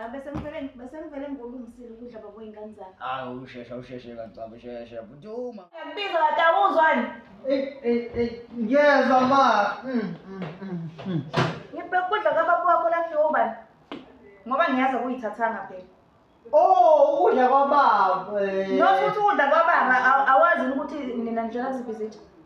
Ah, bese ngivele bese ngivele ngolungisile ukudla babo ingane zami. Ah, ushesha usheshe kancane shesha butuma. Ngibiza batawuzwani? Eh eh eh ngiyezwa ma. Mm, mm, mm, mm. Ngibheka ukudla kababa wakho la kudliwa ubani? Ngoba ngiyazi ukuyithathanga phela. Oh, ukudla kwababa. eh. Nokuthi ukudla kwababa aw- awazi yini ukuthi nina nijela kuzibhizithi.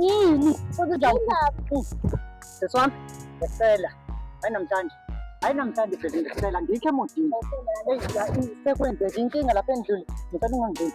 Yini? Sisi wami, ngisela. Hayi namhlanje. Hayi namhlanje bheke ngisela ngikho emodini. Eyi sekwenzeka inkinga lapha endlini. Ngicela ungangeni.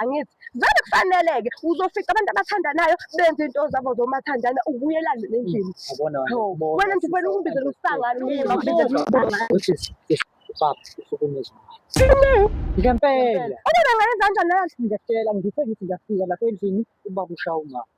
angithi vele kufaneleke uzofica abantu abathandanayo benze into zabo zomathandana ubuyelane nendlini wena nje wena ukumbizela usangane ngempela obona ngayenza kanjani nayo ngiyakutshela ngithe ngithi ngiyafika lapha endlini ubaba ushawungapha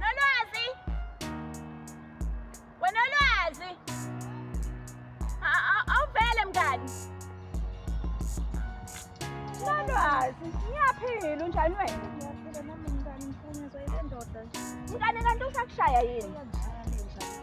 Nolwazi! Wena Nolwazi! A- a- Awuvele mngani! Nolwazi, ngiyaphila unjani wena? Ngiyaphila nami mngani, ngiphanyazwa ile ndoda. Mngani kanti usakushaya yini? Ngiyaphila.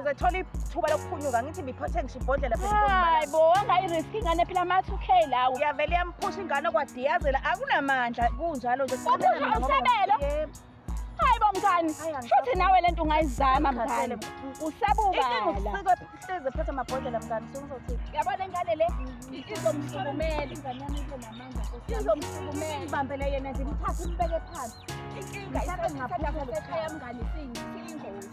uzothola ithuba lokuphunyuka ngithi ngiphothe ngisho ibhodlela hayi bo angayirisk ingane phela ama-two k lawo uyavele iyamphusha ingane kwadiyazela akunamandla kunjalo nje usabelo hayi bo mngani futhi nawe le nto ungayizama mngani usabukala hleze phethe amabhodlela mngani sokuzothini yabona ingane le izomsukumela ingane yami ngizomsukumela yena nje ngithathe umbeke phansi inkinga isasekhaya mngane siyingozi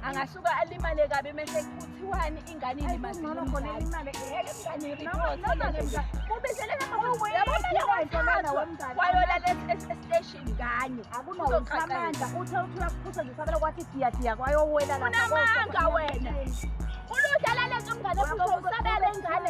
angasuka alimale kabi mese kuthiwani ingane ilimawayolela esiteshini kanye akunoamandla uthe uthula kuphusa nje sabela kwathi diyadiya kwayowela unamanga wena uludlala lento mngane futhi usabele ingane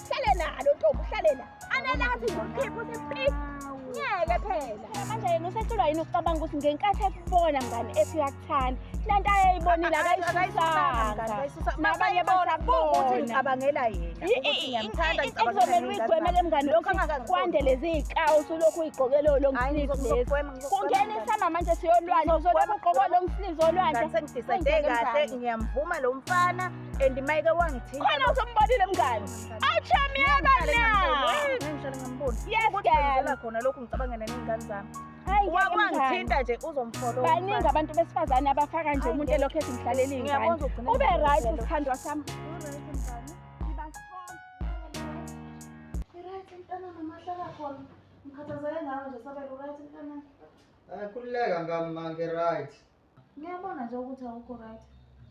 Hlale nalo ntombi uhlale la. Analazi ngokhipho sepi. Ngeke phela. Manje yena usehlulwa yini ukucabanga ukuthi ngenkathi ekubona mngani ethi uyakuthanda. Lento ayeyibonile akayishisanga. Nabanye basabona. Abangela yena. Ngiyamthanda Ekuzomela uyigwemele mngani lokhu kwande lezi ikawu usulokhu uyigqokele lo mslizo lezi. Kungena isama manje siyolwandle uzolokhu ugqoka lo mslizo olwandle. Sengidisethe kahle ngiyamvuma lo mfana. and mayike wangithinta khona usombonile mngani awuchami yakanayesgela khona lokhu ngicabangela ney'ngane zami wakwangithinta nje uzomfolowa baningi abantu besifazane abafaka nje umuntu elokhu ethi ngihlalele iy'ngane ube right sithandwa sami Ngikhathazeke ngawe nje sabela uright mntana. Akhululeka ngami ma ngi-right. Ngiyabona nje ukuthi awukho right.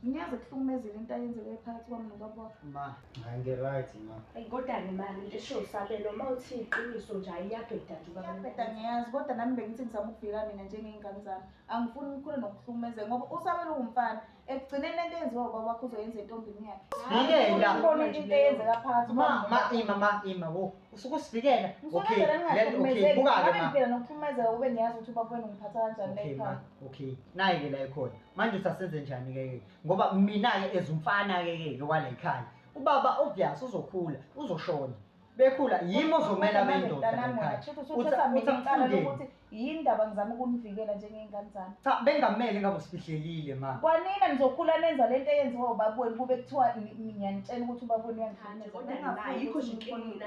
Ngiyazi kuhlukumezile into ayenzeke phakathi kwami nobaba wakho. Ma, hayi ngi-right ma. Ayi kodwa ke mani into esho usabelo uma uthi iqiniso nje ayiyabheda nje ubaba. Ngiyabheda ngiyazi kodwa nami bengithi ngizama ukuvikela mina njengey'ngane zami. Angifuni ngikhule nokuhlukumezeka ngoba usabelo uwumfana. Ekugcineni le nto eyenziwa ubaba wakho uzoyenza entombini yakhe. Sivikela. Ubona into eyenzeka phakathi Ma, kwami ma, nobaba wakho. ima ma, ima wo. Usuke usivikela. Okay, Ngifuna let okay, ningahlukumezeki. buka-ke Ngabe ma. ngiphila nokuhlukumezeka ube ngiyazi ukuthi ubaba wenu ngiphatha kanjani Okay ma, nekhaya. okay naye ke la ikhona manje usasenze njani ke ke ngoba mina ke ezumfana ke ke wala ikhaya ubaba obvious uzokhula uzoshona bekhula yimi ozomela bendoda ekhaya ukuthi yini ndaba ngizama ukunivikela njengey'ngane zami cha bengamele ngabe usifihlelile ma kwanina nizokhula nenza le nto eyenziwa ubaba wenu kube kuthiwa ngiyanitshela ukuthi ubaba wenu uyangihlukumeza kodwa naye yikho nje inkinga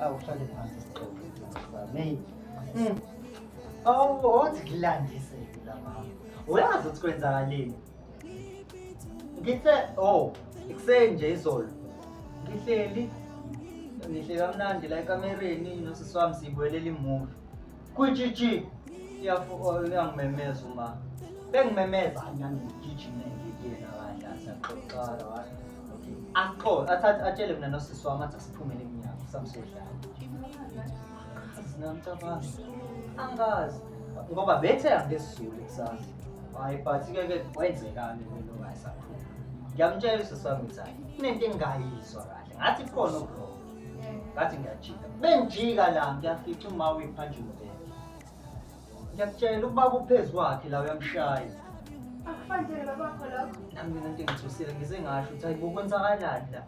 awuhlale phansi sixoxe May hmm. awu othi kulandise la mama uyazi ukuthi kwenzakaleni ngithe oh ikuseni nje izolo ngihleli ngihleli kamnandi la ekamereni nosisi wami siyibuyelela imuvi Kwijiji uyangimemeza uma bengimemeza ngangigijime ngikuyena kanje asaxoxala wathi axoxe athathe atshele mina nosisi wami athi asiphumele emnyango samsodlala singamcabanga angazi ngoba bethe angesizulu kusasa hayi but ke ke wayenzekani lelo ngayisaphuma ngiyamtshela usisi wami ukuthi hayi kunento engingayizwa kahle ngathi khona okurongo ngathi ngiyajika bengijika la ngiyafica uma uyiphanjwa umbheke ngiyakutshela ubaba uphezu kwakhe la uyamshaya akufanele babakho lokho nami mina into engithusile ngize ngasho ukuthi hayi bokwenzakalani la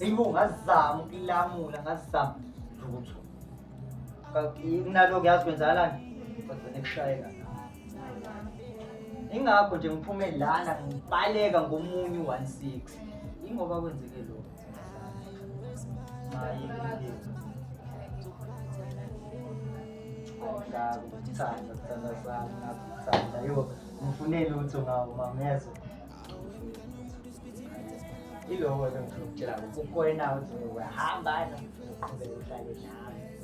eyi bo ngazama ukulamula ngazama lutho kunaloko yazi kwenzakalani kodwa nekushayeka ingakho nje ngiphume lana ngibaleka ngomunye u-one six ingoba kwenzeke lokho Kuthanda, kuthanda sami, nakuthanda. Yo, ngifune lutho ngawo mamezwa. Iloko ke ngifuna ukutshela ukuthi ukhona uthi uyahamba noma uqhubeke uhlale nami.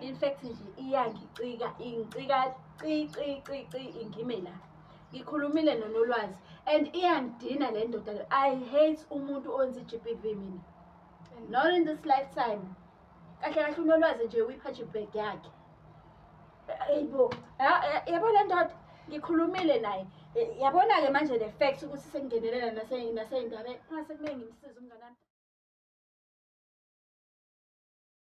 in fact nje iyangicika ingicika cicicici ingime la ngikhulumile nonolwazi and iyangidina le ndoda le i hate umuntu onzi i-g p v mina not in this lifetime kahle kahle unolwazi nje uyiphathe ibag yakhe eyibo yabo le ndoda ngikhulumile naye yabona-ke manje le fact ukuthi sengingenelela naseyindabeni ngase kumele ngimsize umnganami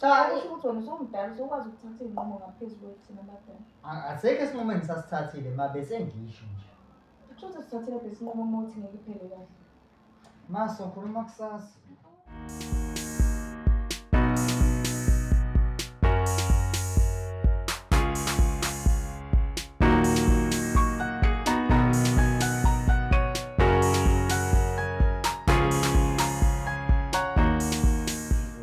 Cha, usho ukuthi wena usumdala usukwazi ukuthatha iy'nqumo ngaphezu kwethina abadala. A- Asekho esinqumo engisasithathile ma besengisho nje. Kusho ukuthi sithathile besinqumo uma uthi ngeke iphele kahle. Ma sokhuluma kusasa.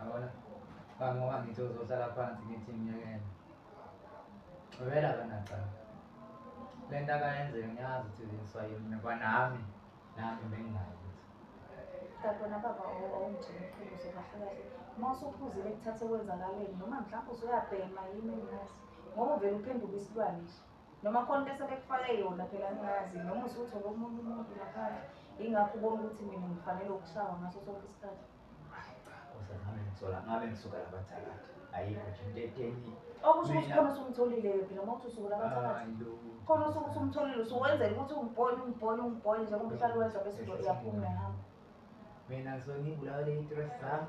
Abona bangoba ngithi uzohlala phansi ngithi ngiyekele wena kanacala le nto akayenzeka ngiyazi ukuthi ziswa yini kwanami nami bengingayo Dabona baba awungijini iqiniso kahle kahle uma usuphuzile kuthatha okwenzakaleni noma mhlawumbe usuyabhema yini engazi ngoba uvele uphenduke isilwane nje noma khona into sebekufake yona phela ngingazi noma usuthe komunye umuntu ngaphandle yingakho ubona ukuthi mina ngifanele ukushawa ngaso sonke isikhathi Kosa ngabe ngisola ngabe ngisuka labathakathi ayikho nje into etheni okusho ukuthi khona usumtholile phela uma uthi usuke labathakathi khona usuke usumtholile usuwenzela ukuthi ungibone ungibone ungibone njengoba uhlale wenza bese uyaphuma uyahamba May nangisuke ngibulawe le dress zami.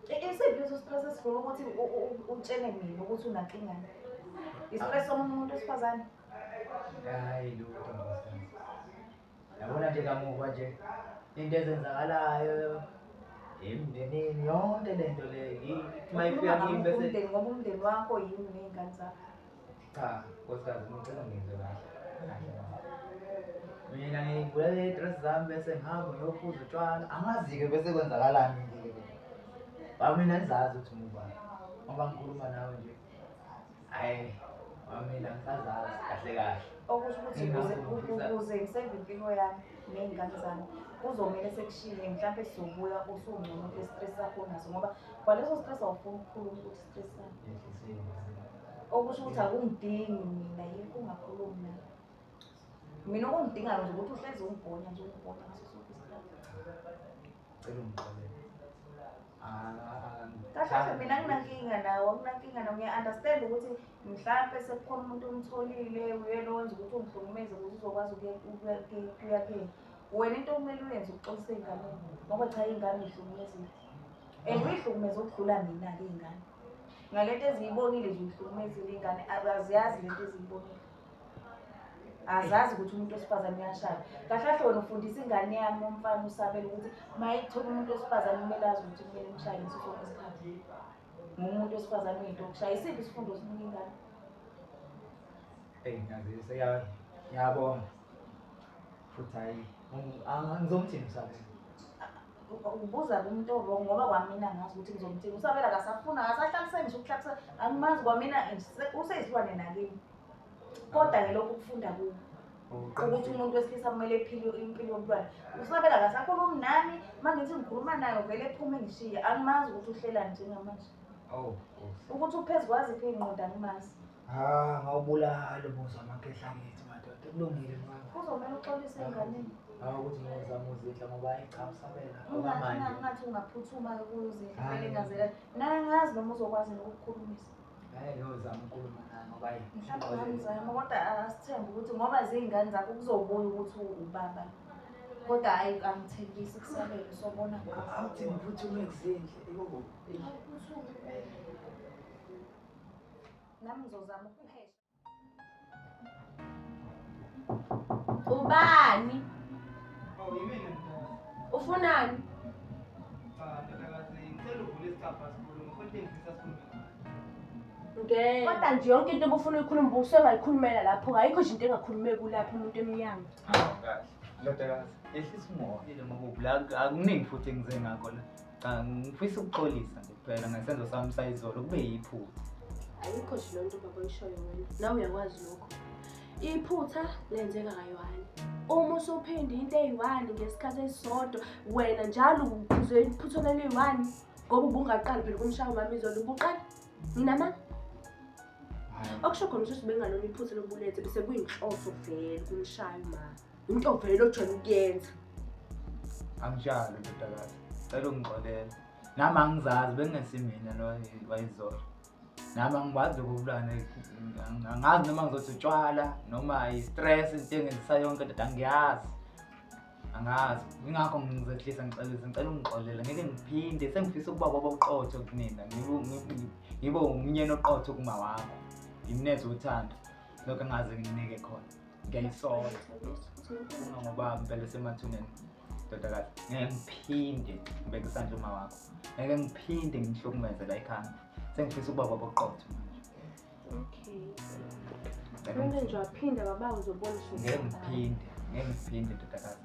Isiphi leso stress esifuna ukuthi u- u- u- utshele mina ukuthi unakingani? Istress somunye umuntu wesifazane? Hayi lutho ntombazane. Yabona nje kamuva nje into ezenzakalayo emndenini yonke lento le yi- uma ifika kimi bese Umndeni ngoba umndeni wakho yini ney'ngane zakho? Cha, nkosikazi ngicela ngizwe kahle. Mina ngigula i-dress zami bese ngihamba ngiyophuza utshwala. Angazi-ke bese kwenzakalani nje. Ba mina ngizazi ukuthi ngubani. Ngoba ngikhuluma nawe nje. Hayi, mina ngisazazi kahle kahle. Okusho ukuthi ukuze ukuze ngisenze impilo yami ney'ngane zami kuzomele sekushile mhlawumpe sizobuya usungcono kule-stress sakho naso ngoba kwaleso stress awufuni ukukhuluma ukuthi okusho ukuthi akungidingi mina yikho ungakhulumi naye mina okungidingayo nje ukuthi uhlezi ungibhonya nje ungibhonya ngaso sonke isikhathi cela ungixolele kahle mina nginankinga nawo nginankinga nawo ngiya-understand ukuthi mhlampe sekukhona umuntu omtholile uyena owenza ukuthi ungihlukumeze ukuthi uzokwazi ukuya kuyeni wena into okumele uyenze ukuxolisa iy'ngane ngoba cha iy'ngane yihlukumezile and uyihlukumeza ukudlula mina-ke iy'ngane ngalento eziyibonile nje uyihlukumezile iy'ngane aziyazi lento eziyibonile azazi ukuthi umuntu wesifazane uyashaya kahle kahle wena ufundisa ingane yami umfana usabela ukuthi uma ithola umuntu wesifazane kumele azi ukuthi kumele imshaye ngaso sonke isikhathi ngumuntu wesifazane uyinto okushaya isiphi isifundo sinika ingane eyi ngazise ngiyabonga futhi hayi angizomthini msabela ubuza kumuntu owrong ngoba kwamina ngazi ukuthi ngizomthinga usabela kasafuna akasahlaliseki ngisho ukuhlaliseka angimazi kwamina useyisilwane nakimi kodwa ke lokhu kufunda kuwo ukuthi umuntu wesilisa kumele ephile impilo yomntwana usabela kasakhulumi nami uma ngithi ngikhuluma nayo vele ephume ngishiye angimazi ukuthi uhlelani njengamanje ukuthi uphezu kwaziphi iy'nqoda angimazi Ah, ngawubulala ubuza amakhehla ngithi madoda kulungile mama. Kuzomela uxolise enganeni. Hawu ukuthi ngizama uzidla ngoba ayichamsabela okwamanje. Ungathi ungaphuthuma kuyozidla kumele ngazela. Naye ngazi noma uzokwazi ukukhulumisa. Hayi ngiyozama ukukhuluma naye ngoba ayi. Mhlawumbe ngizama kodwa asithembe ukuthi ngoba zingane zakho kuzobuya ukuthi ubaba. Kodwa hayi angithembisi kusabele sobona. Awuthi ngiphuthume kuzindle. Ibo. Awuphuthume. Nami ngizozama ukuphesha. Ubani? Oh, yimina mntwana. Ufunani? Cha, ndodakazi, ngicela uvule isicabha sikhulu, ngifuna ukutengisa sikhulu. Ngeke. Kodwa nje yonke into obufuna uyikhuluma ubuso engayikhulumela lapho kayikho nje into engakhulumeki kulapho umuntu emnyango. Ndodakazi, yehlisa umoya. Yile makubi, la akuningi futhi engize ngakho la. Cha ngifisa ukuxolisa nje kuphela ngesenzo sami sayizolo kube yiphutha. Ayikho nje lonto baba oyishoyo wena. Nawe uyakwazi lokho. Iphutha lenzeka kayohani. Uma usuphinde into eyi-one ngesikhathi esisodwa wena njalo uphuzwe iphutha leliyi-one ngoba ubungaqali phela kumshaya umama izolo ubuqala nginama okusho khona ukuthi bengalona iphutha lobulethe bese kuyinhloso vele kumshaya umama Into vele ojwayele ukuyenza. Anginjalo ndodakazi. Cela ungixolela. Nami angizazi bengesimina lo wayizolo. Nami angibazi ukubulana angazi noma ngizothi utshwala noma i-stress into engenzisa yonke ndoda angiyazi. Angazi. Ingakho ngizehlisa ngicela ngicela ungixolela ngeke ngiphinde sengifisa ukuba baba uqotho kunina. Ngibe ngibe umnyeni oqotho kuma wakho. Ngimneze uthando. Lokho ngaze nginike khona. ngiyayisola uma ngoba ngivele semathuneni ndodakazi ngeke ngiphinde ngibeke isandla uma wakho ngeke ngiphinde ngihlukumeze la ekhanda sengifisa ukuba baba oqotho okay Ngeke ngiphinde, ngeke ngiphinde ndodakazi.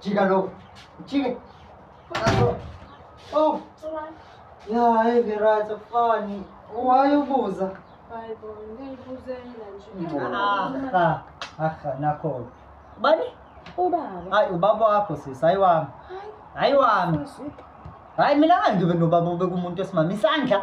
Chika lo. Chika. Panaso. Oh. Ya, hey, Vera, it's a funny. Why you buza? Aha, aha, nakho. Bani? Ubaba. Hayi, ubaba wakho sis, hayi wami. Hayi wami. Hayi mina angibe nobaba obeka umuntu esimama isandla.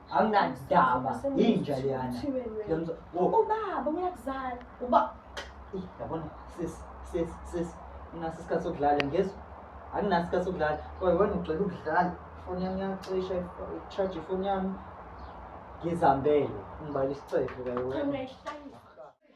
anginadaba yinja leyana ubaba uyakuzala uba yabona sis sis sis nginaso isikhathi sokudlala ngezwa anginaso isikhathi sokudlala kodwa wena ugcela ukudlala ifoni yami iyacisha charge ifoni yami ngizambele ngibala isicefe kayo wena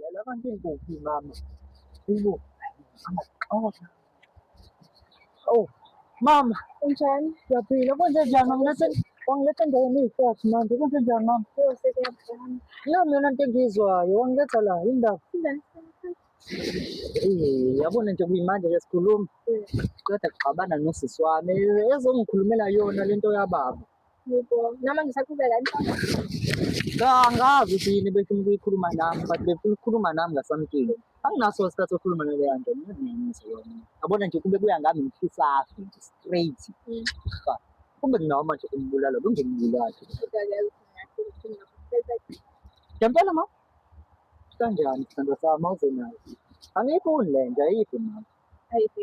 Lalela abantu inkukhu mama. Inkukhu. Amaxhosa. Oh, mama, unjani? Ngiyaphila. Konje njani mama? Lethe wangiletha endaweni eyifathi manje. Konje njani mama? Nami yona into engiyizwayo. Wangiletha la, yini ndaba? Eh, yabona nje kuyimanje ke sikhuluma. Qeda kuxabana nosisi wami. Ezongikhulumela yona lento yababa. Yebo, nami ngisaqhubeka Cha, angazi ukuthi yini befuna ukuyikhuluma nami but befuna ukukhuluma nami ngasamkile anginaso isikhathi sokukhuluma naleya nto ngiyazinenisa yona yabona nje kube kuya ngami ngifisaphi nje straight mm. kumbe nginawo manje umbulalo kungenibulali ngempela ma kanjani sithando sami awuzenayo angiyiboni le nto ayiphi mama ayiphi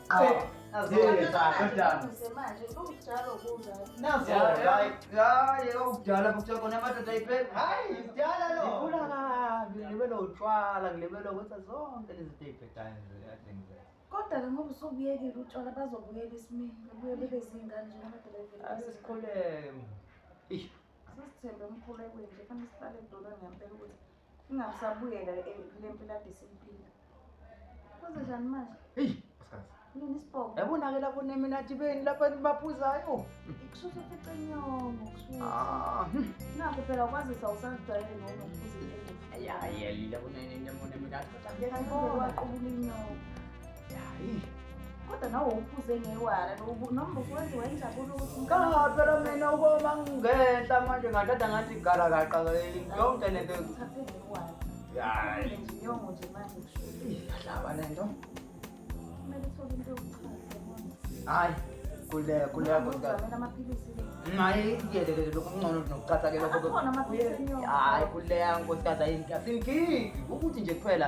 okudala futhi khona amadoda ayiphethe hayi kudala lo ngifuna kabi ngilibele utshwala ngilibele ukuthi zonke lezi zinto ey'phethayo nje kade ngizela kodwa-ke ngoba usubuyekile utshwala bazobuyela esimeni babuye bebe zingane njengamadoleveni asisikholeke sisithembe emkhulekweni nje fanele sihlale edolweni ngempela ukuthi Ingasabuyela le mpilo ade simpila. Kuze njani manje? Eyi, asazi. Yini isibhobo? Yabona-ke lapho neminati beni lapho baphuzayo. Kushuthi ufice inyongo, kushuthi. Ah, hmm. Nakho phela kwazisa usazijwayele noma ukuze into. Ayayelile kuneminati. Yena ngeke waqubula inyongo. kodwa nawe uphuze ngewala noma ukwenzi wayinjabulo ukuthi cha phela mina ukoma ngingenhla manje ngathatha ngathi igala kaqa yonke lento yadlaba le nto hayi kule kule hayi kuyelelele lokhu kungcono nokucatha ke lokho hayi kuleya nkosikazi ayinkinga sinkingi ukuthi nje kuphela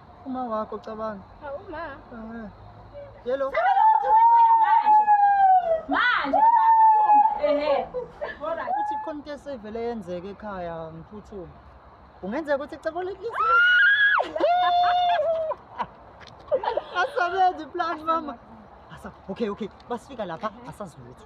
Uma wakho cabanga. Cha uma. Eh. Yelo. Manje baba uthumbe. Ehhe. Alright. Uthi khona into esevele yenzeke ekhaya ngiphuthuma. Kungenzeka ukuthi icebo lekisi. Asabenzi plan mama. Asa, okay okay. Basifika lapha asazilutho.